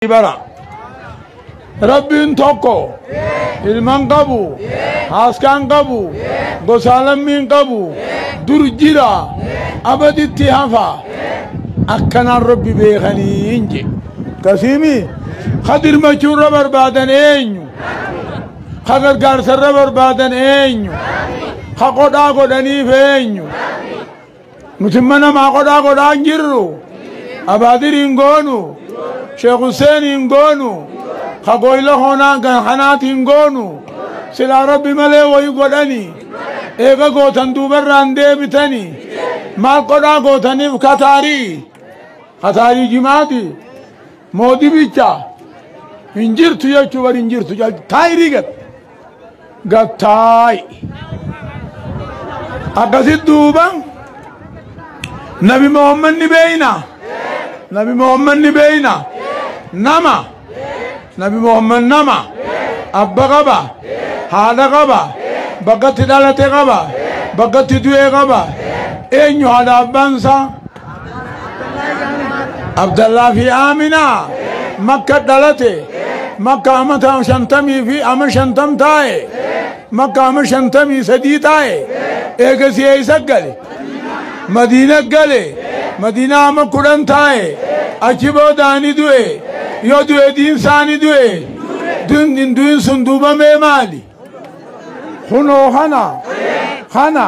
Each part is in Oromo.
bara rabbiin tokko ilman qabu haaskaan qabu gosaa lammiin qabu dur jira abaditti hafa akkanaan rabbi beekanii hin je kasiimi ka dirmachuurra barbaadan eenyu ka gargaarsarra barbaadan eenyu ka qodhaa godhaniif eenyu Nuti imma namaa qodhaa godhaa hin jirru. Abaadir hin goonu. Sheekh Hussein hin goonu. Ka gooyla hoonaan kan kanaati hin goonu. Silaa rabbi malee wayi godhani. Eega gootan duubarraan deebitani. Maal qodhaa gootaniif kataarii. Kataarii jimaati. Moodibicha. Hin jirtu jechuu bari hin jirtu. Taayirii gad. gattaa'i. Akkasit duuba nabi Muhammad ni beeyna. Nabi Muhammad ni beeyna. Nama. Nabi Muhammad nama. Abba qaba. Haadha qaba. Bakkatti dhalate qaba. Bakkatti du'ee qaba. Eenyu haadha abbaan isaa? Abdallaa fi Aaminaa makka dhalate makka amata shantamii fi ama shantam taa'e makka ama shantamii sadii taa'e eegasii eessa gale madiina gale madiina ama kudhan taa'e achi boodaani du'e yoo du'e diinsaani du'e du'in du'in sun duubamee maali kunoo kana kana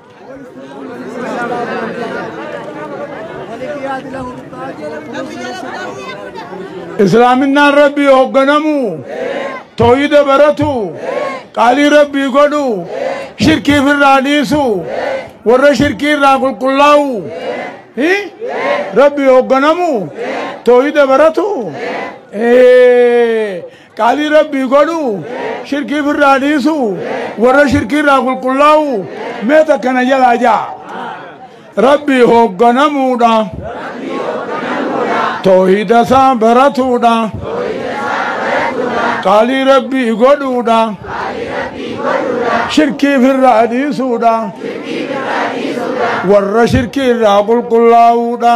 islaaminaan rabbii hogganamu tooyida baratu qaalii rabbii godhu shirkii firraa dhiisu warra shirkii irraa qulqullaa'u hi? rabbii hogganamu tooyida baratu Ee, Qaalii rabbii godhu shirkii firraa dhiisu warra shirkii irraa qulqullaa'u mee takka na jalaa ja'a. Rabbii hoogganamuudha. Toohida isaa baratuudha. Qaalii rabbii godhuudha. Shirkii firraa dhiisuudha. Warra shirkii irraa qulqullaa'uudha.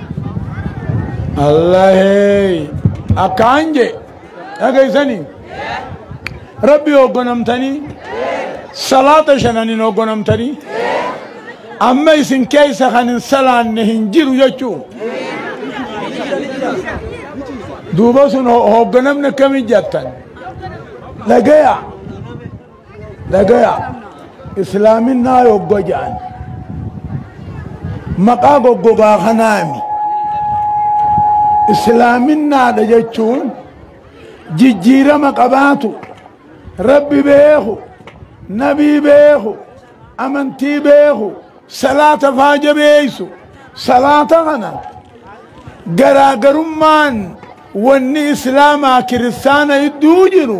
Allahee akkaan je dhageessani rabbi hoggonamtanii salaata shananiin hoggonamtanii amma isin keessa kan hin salaanne hin jiru jechuu duuba sun ho- hogganamni akkamii jattan dhagaya Dhagaya islaaminaa yogga ja'an maqaa goggogaa kanaami islaaminaadha jechuun jijjiirama qabaatu rabbi beeku nabii beeku amantii beeku salaata faa jabeeysu salaata kana garaagarummaan wanni islaamaa kiristaana idduu jiru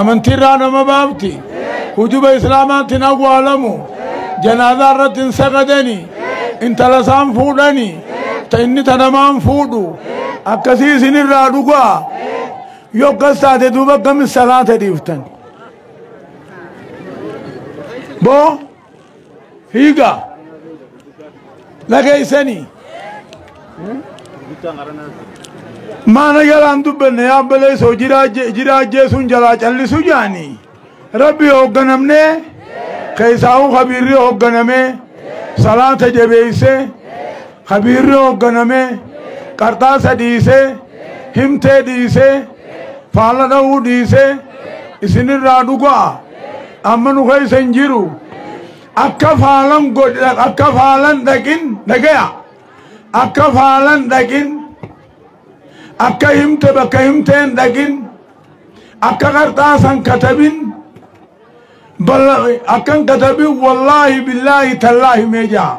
amantiirraa nama baafti hujuba islaamaatti hin awwaalamu janaazaa irratti hin sagadani intala isaan fuudhani ta inni ta namaan fuudhu akkasii isinirraa dhugaa yoo akkas taate duuba akkamis salaata dhiiftan boo Higa. Dhageessanii. Maana jalaan dubbanne yaabbalee soo jiraa ajjeesuun jalaa callisu jaanii. Rabbi hoogganamnee keessaahuu kabiirri hoogganamee salaata jabeessee ka biirri hoogganamee qarxaasa dhiisee himtee dhiisee faalla dha'uu dhiisee isinirraa dhuga'a amma nu keessa hin jiru akka faalan godha akka faalan dhaqin dhagaya akka faalan dhaqin akka himte bakka himteen dhaqin akka qarxaasan katabin Balla akkan katabi wallaahi billaahi tallaahi mee ja'a.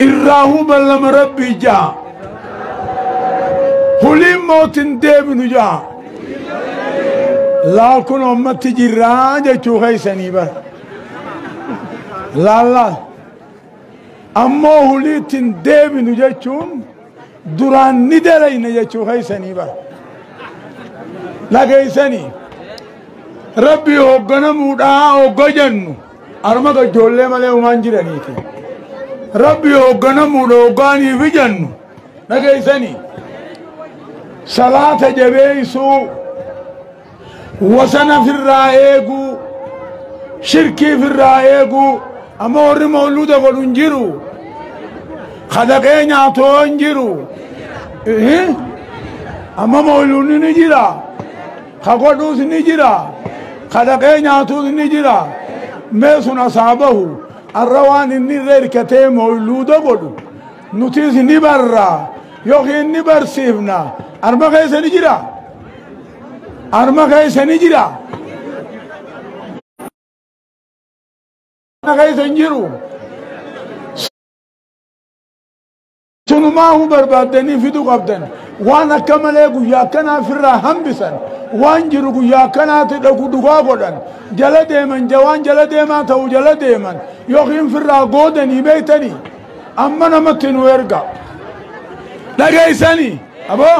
Irraahuu ballama rabbii ja'a. Huliin mootin deebinu ja'a. Laal kun ummatti jirraa jechuu keessanii bara. Laal laal. Ammoo huliittiin deebinu jechuun duraan ni dalayna jechuu keessanii bara dhageessanii rabbii hoogganamuudhaa hogga jennu arma ijoollee malee umaan jiraniiti rabbii hoogganamuudha hoggaaniif jennu dhageessanii salaata jabeessuu wasana firraa eeguu shirkii firraa eeguu amma warri mawluuda godhu hin jiru kadaqee nyaatoo hin jiru Ihi. amma mawluunni ni jira ka godhuus ni jira kadaqee nyaatuus ni jira mee sun asaabahu arra waan inni irra hirkatee mawluuda godhu nutis ni barra yookiin ni barsiifna arma keessa ni jira Arma keessa ni jira. Arma keessa hin jiru. Sunumaahuu barbaaddanii fidu qabdan. Waan akka malee guyyaa akkanaa firraa hambisan. Waan jiru guyyaa akkanaatti dhaqu dhugaa godhan. Jala deeman jawaan jala deemaa ta'u jala deeman. Yookiin firraa goodanii beektanii. Amma namatti nu erga. Dhageessanii. Aboo.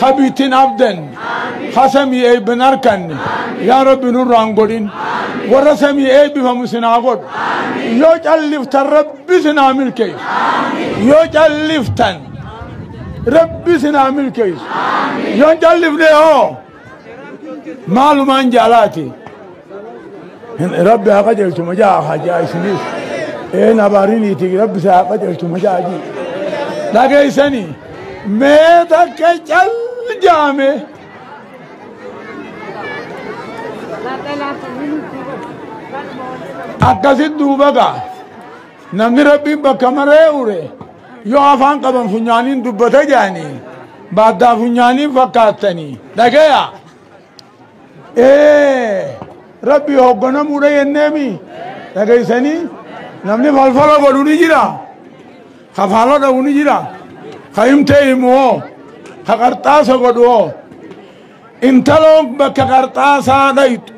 ha biittin abdanne ha samii eebban harkanne yaa rabbi nurraan godhin warra samii eebbifamu sinaa godhu yoo calliftan rabbi sinaa milkeessu yoo calliftan rabbi sinaa milkeessu yoo callifne hoo maalumaan jaalaati rabbi haa qajeelchu majaa haa jaa isiniif een abaariniiti rabbi isaa haa qajeelchu majaa jii dhageessanii mee takka cal jaame akkasit duuba gaa Namni Rabbiin bakka maree ure yoo afaan qaban funyaaniin dubbata jedhanii baaddaa funyaaniin fakkaattanii dhagaya. Ee Rabbii hogganamuudha jenneemi dhageessanii namni falfala godhu ni jira. Ka faala dhabu ni jira. Ka himtee himu hoo. Ka qarxaasa godhu hoo. Intaloon bakka qarxaasaa dhayxu.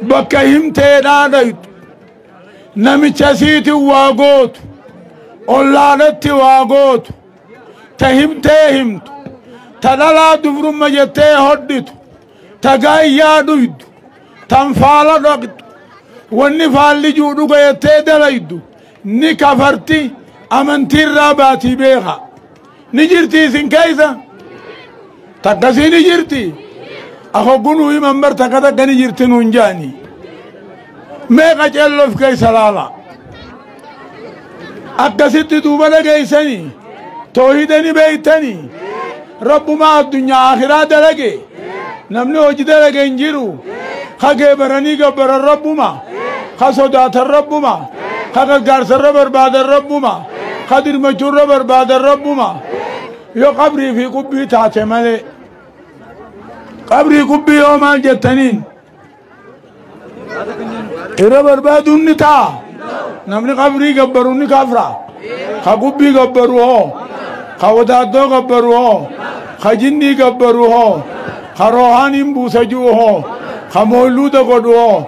Bakka himteedhaa dhayxu. namicha isiitiin waa gootu ollaadhatti waa gootu ta himtee himtu ta dhalaa dubrumma jettee hodhitu ta gaayyaa dhuydu tan faala dhaqxu wanni faallijuu dhuga jettee dalaydu ni kafarti amantiirraa baatii beekaa ni jirti isin keessa takkasii ni jirti akoggunuu himan bar takka takka ni jirti nuun jaani mee qaceelloof keessa laala akkasitti duuba dhageessanii toohida ni beektanii rabbumaa addunyaa akiraa dalagee namni hojii dalage hin jiru ka geebaranii gabbaran rabbuma ka sodaatan rabbuma ka gargaarsarra barbaadan rabbuma ka dirmachuurra barbaadan rabbuma yoo qabrii fi qubbii taate malee qabrii qubbii yoo maal jettaniin Irra barbaaduun ni ta'a. Namni qabrii gabbaru ni kafra. Ka gubbii gabbaru hoo. Ka wadaaddoo gabbaru hoo. Ka jinnii gabbaru hoo. Ka roohaaniin buusa ji'u hoo. Ka mooyluuda godhu hoo.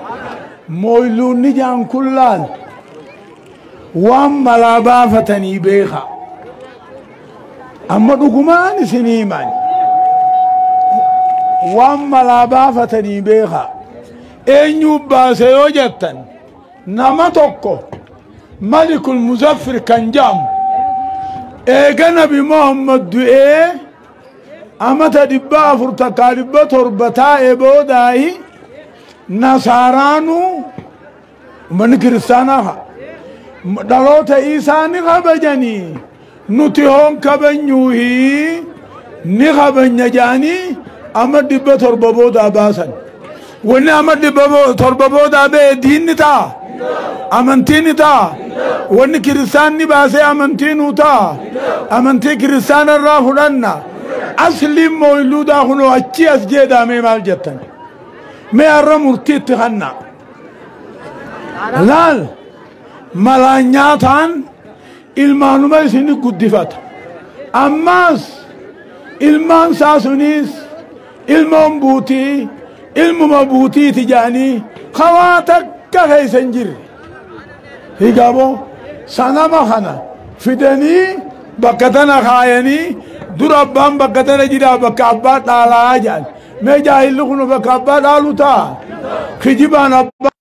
Mooyluunni jaan kun laal. Waan malaa baafatanii beeka. Amma dhugumaan isin himan waan malaa baafatanii beekaa eenyuu baase yoo jettan nama tokko malikul muzaffir kan jedhamu eega nabi muhammad du'ee amata dhibba afur takkaa dhibba torba taa'e boodaayi nasaaraanuu Ummanni kiristaanaa dhaloota isaa ni kabajanii nuti hoon kabanyuuhi ni kabanya jedhanii amma dhibba torba boodaa baasan. Wanni amma dhibba torba boodaa ba'e diinni ta'a. Amantiin ta'a. Wanni kiristaanni baasee amantii nuu ta'a. Amantii kiristaana irraa fudhanna. Asliin mooyiluudaa kunoo achii as jeedaamee maal jettan? Mee har'a murtii itti kannaa. laal malaan nyaataan ilmaanuma isin guddifata ammaas ilmaan isaa suniis ilmoon buutii ilmuma buutiiti jedhanii kawaa takka keessa hin jirre Higabo sanama kana fidanii bakka tana kaayanii dura abbaan bakka tana jira bakka abbaa dhaalaa jedhan. Mee jaahilli kun bakka abbaa dhaalu ta'a. Kijibaan abbaa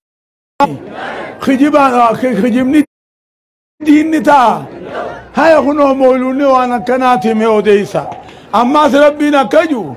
kijibaan kijibni diinni ta'a. Haya kunoo mooluunni waan akkanaati mee odeessa. Ammaas rabbiin akka jiru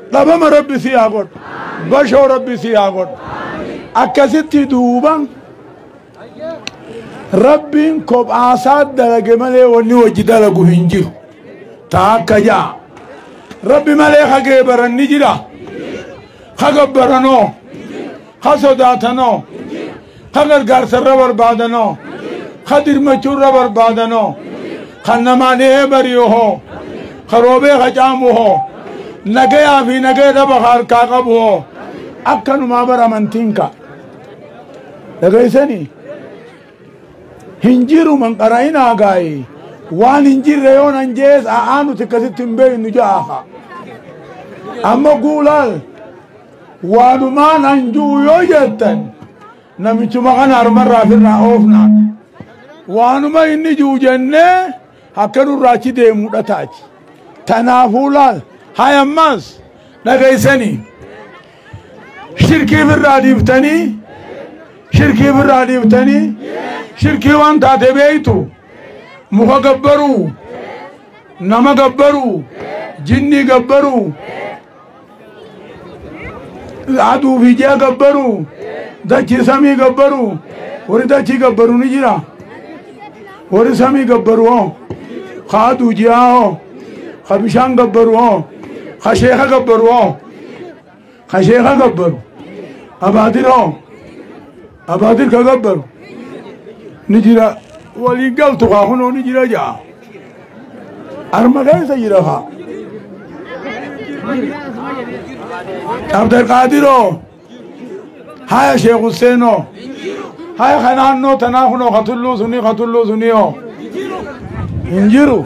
Dhabama rabbi sii haa godhu. Bashoo rabbi sii haa godhu. Akkasitti duuba rabbiin kophaasaa dalage malee wanni wajji dalagu hin jiru. Taa akka ja'a. Rabbi malee hagee baranni jira. Haga baranoo. ka sodaatanoo ka gargaarsa irra barbaadanoo ka dirmachuu irra barbaadanoo kan namaa dhihee bari'u hoo ka roobee ka caamu hoo nagayaa fi nagaya dhaba ka harkaa qabu hoo akkanumaa bara amantiin ka dhageessanii hin jiru man qara'inaa gaa'ee waan hin jirre yoo nan jees a'aa nuti akkasitti hin beeknu ja'a amma guulaal Waanumaan an ju'u yoo jettan namichuma kana harmarraa firraa oofnaa. Waanuma inni ju'u jennee akka nurraa achi deemudha taati. Tanaafuu laal hay ammaas dhageessanii shirkii firraa dhiiftanii shirkii firraa dhiiftanii shirkii waan taate beeytu muka gabbaruu nama gabbaruu jinnii gabbaruu Laatuu fi ji'a gabbaru, dachii samii gabbaru, warri dachii gabbaru ni jira. Warri samii gabbaru hoo, kaaduu ji'aa hoo, ka bishaan gabbaru hoo, ka sheeka gabbaru hoo, ka sheeka gabbaru, abaadir hoo. Abaadir ka gabbaru ni jira waliin galtu kaa kunoo ni jira ja'a. Arma keessa jira kaa. Abdulqaadiroo haya Sheekh Husseenoo haya ka naannoo tanaa kunoo ka tulluu sunii ka tulluu sunii hoo hin jiru.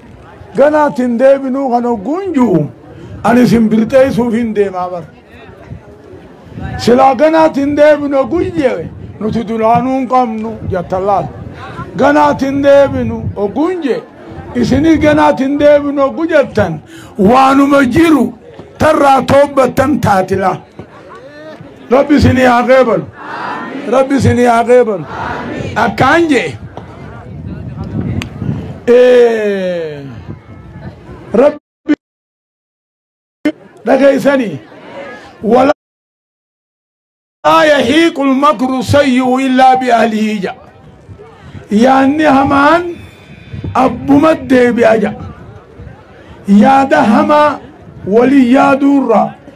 Ganaatti hin deebinuu kan hogguun ji'u ani isin birxeessuuf hin deemaa bara. Silaa ganaatti hin deebinu hogguun jedhe nuti duraanuu hin qabnu jattan laal. Ganaatti hin deebinu hogguun jedhe isinis ganaatti hin deebinu hoggu jettan waanuma jiru tarraa toobbattan taatila. Rabbi isinii haa qeebalu. Rabbi isinii haa qeebalu. Akkaan jee. Eh, Rabbi dhageessanii. Wala laa yahiiqul makru sayyuu illaa bi'ahlihii jedha. Yaanni hamaan abbuma deebi'a jedha. Yaada hamaa walii yaaduurraa.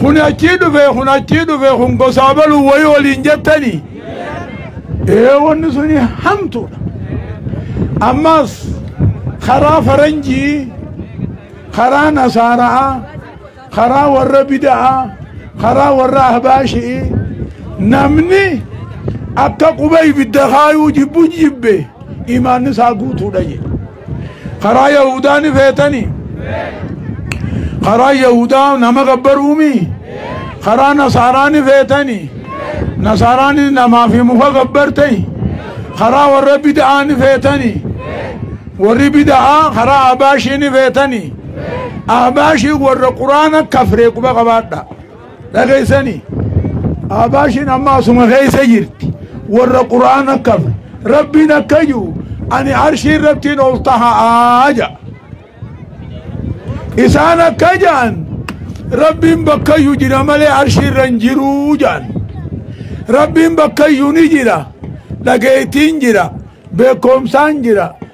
kun achii dhufe kun achii dhufe kun gosaa baluu wayii waliin jettanii ee wanni suni hamtuudha ammaas karaa faranjii karaa nasaara'a karaa warra bida'a karaa warra ahbaashi'i namni akka quba ibidda kaayuu jibbu jibbe imaanni isaa guutuudha jedhe Karaa Yahudaa ni feetani. Karaa Yahudaa nama gabbaruumi. Karaa Nasaaraa ni feetani. Nasaaraanis namaa fi muka gabbartani. Karaa warra bida'aa ni feetani. Warri bida'aa karaa Ahbaashii ni feetani. Ahbaashii warra quraana kafree quba qabaadha. dhageessanii Abaashiin amma asuma keessa jirti warra quraana qab rabbiin akka jiru ani arshii irrattiin ol taha'aa ja isaan akka jaan rabbiin bakkayyuu jira malee arshii irra hin jiruu jaan rabbiin bakkayyuu ni jira dhageettiin jira beekumsaan jira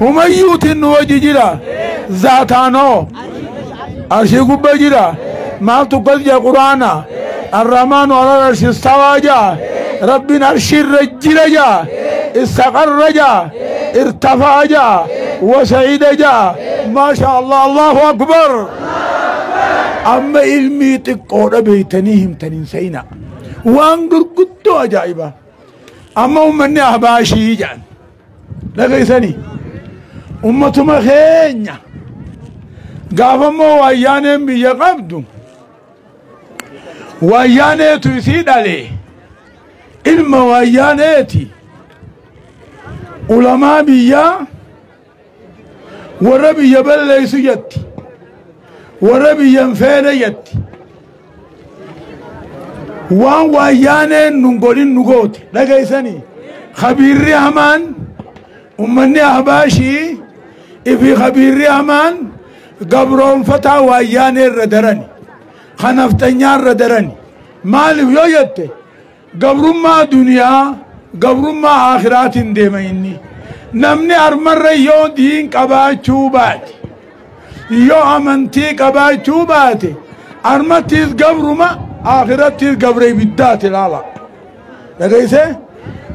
Humayyuutiin nu wajji jira. Zaataanoo. Arshii gubba jira. Maaltu akkas jaa quraana. Arrahmaanu alal arshi istawaa jaa. Rabbiin arshiirra jira jaa. Istaqarra jaa. Irtafaa jaa. Wasa'iida jaa. Maasha Allah Allahu Akbar. Amma ilmii xiqqoodha beeytanii himtaniin sa'ina. Waan gurguddoo ajaa'ibaa. Amma uummanni abaashii jedhan. dhageessanii ummatuma keenya gaafammoo waayyaaneen biyya qabdu waayyaaneetu isii dhale ilma waayyaaneeti ulamaa biyyaa warra biyya balleessu jetti warra biyya hin feene jetti waan waayyaaneen nun godhin nu goote dhageessanii kabiirri hamaan ummanni ahbaashii ifi kabiirri hamaan gabroonfataa waayyaanee irra darani kan hafxanyaa irra darani maaliif yoo jette Gabrummaa duniyaa gabrummaa aakhiraatiin deema inni. Namni armarra yoo diin qabaachuu baate, yoo amantii qabaachuu baate, armattiis gabruma, aakhirattiis gabra ibiddaati ilaala. Dhageesse?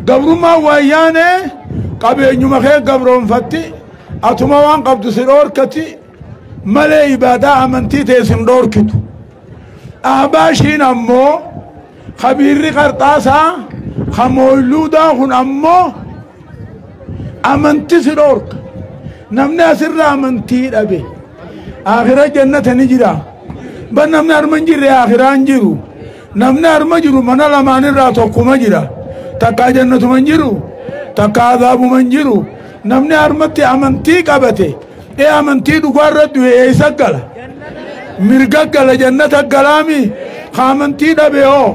Gabrummaa waayyaanee qabeenyuma kee gabroonfatti, atuma waan qabdu si dhoorkati, malee ibaadaa amantii ta'e sin dhoorkitu. Ahbaashiin ammoo Kabiirri qarxaasaa kan mooyluudaa kun ammoo amanti si dhoorka. Namni asirra amantii dhabe akira jannata ni jira. Ban namni harma hin jirre akiraa hin jiru. Namni harma jiru mana lamaan irraa tokkuma jira. Takkaa jannatuma hin jiru. Takkaa azaabuma hin jiru. Namni harmatti amantii qabate. Ee amantii dhugaa irra du'e eessa gala? Mirga gala jannata galaami? Ka amantii dhabe hoo?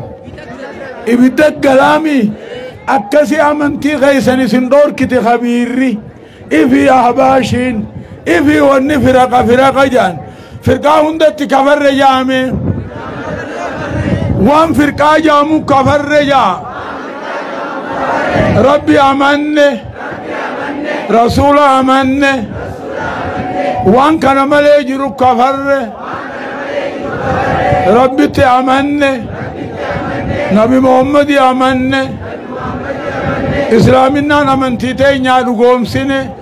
Ibidda galaami? Akkasi amantii keessan isin dhoorkite kabiirri. Ifi ahbaashiin. Ifi wanni firaqa firaqa jaan. Firqaa hundatti kafarre jaame. Waan firqaa jaamu kafarre jaa. Rabbi amanne. Rasuula amanne. Waan kana malee jiru kafarre. Rabbitti amanne. Nabi Muhammadi amanne. Islaaminaan amantii teenyaa dhugoomsine.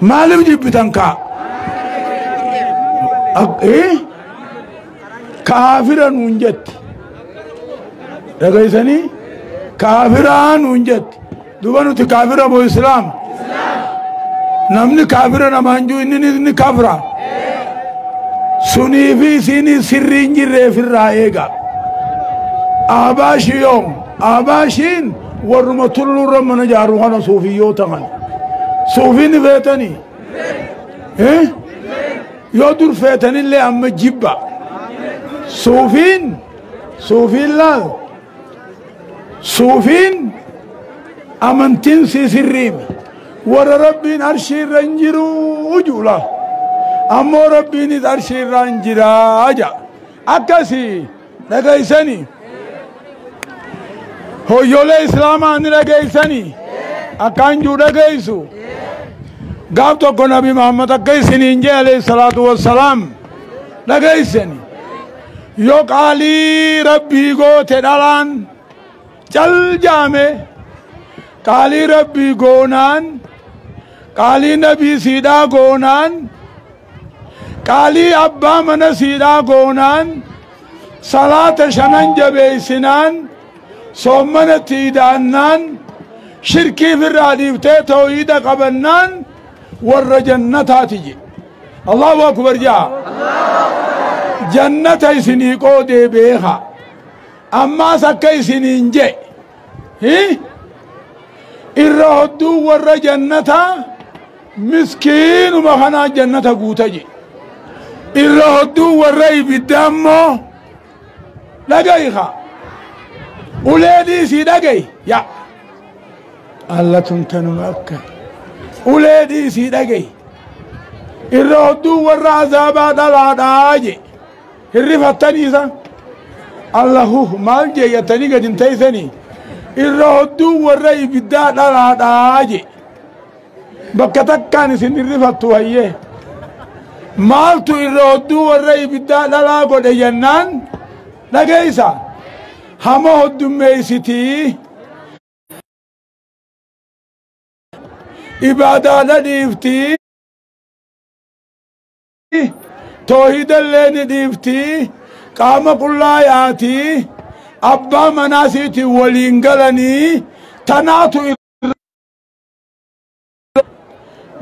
Maaliif jibbitan kaa? Kaafira nuun jetti. Dhagaysanii kaafiraa nuun jetti. Duba nuti kaafira moo islaama? Namni kaafira namaan jiru inni inni kaafira. Sunii fi isiinii sirrii hin jirreef irraa eega. Aabaashi yoom? Aabaashiin. Warruma tulluurra mana ijaaru kana suufiyyoota kana. Suufii ni feetanii? Eh? Yoo dur feetanillee amma jibba. Suufiin suufiin laal suufiin amantiin sii sirriimi. Warra rabbiin arshii irra hin jiru ujuula. Ammoo rabbiinis arshii irra hin jira aja. Akkasii. dhageessanii hoyyoolee islaamaa ni dhageessanii akkaan juu dhageessu gaaf tokko nabi muhammad akka isiniin jee alayhi salaatu wassalaam dhageessanii yoo qaalii rabbii goote dhalaan cal jaame qaalii rabbii goonaan qaalii nabii siidhaa goonaan Qaalii abbaa mana siidhaa goonaan salaata shanan jabeeysinaan soommana itti idaannaan shirkii firraa dhiiftee tooyiida qabannaan warra jannataati je allahu akbar ja'a jannata isinii qoodee beeka ammaas akka isiniin je irra hodduu warra jannataa Miskiinuma kanaa jannata guuta je. Irra hodduu warra ibiddaa immoo dhaga'i ka. Ulee dhiisii dhaga'i yaa. Allatun tanuma akka. Ulee dhiisii dhaga'i. Irra hodduu warra azaabaa dhalaadhaa je. Hirrifattanii isa. Allahuh maal jee yattanii gadi hin teessanii. Irra hodduu warra ibiddaa dhalaadhaa je. Bakka takkaan isin dhirrifattu hayyee. Maaltu irra hodduu warra ibiddaa dhalaa godhe jennaan dhageessa. Hama hoddummeessitii. Ibaadaadha dhiiftii. Toohidallee ni dhiiftii. Qaama qullaa yaatii. Abbaa manaa siitiin waliin galanii tanaatu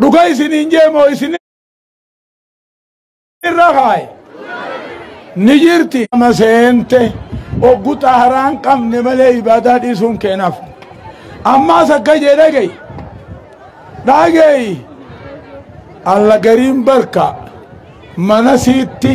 dhuga isiniin jee moo isin irra kaaye ni jirti nama seente oggu xaharaan qabne malee ibaadaa dhiisuun keenaaf ammaas akka jee dhagey dhagey alla gariin barka mana siitti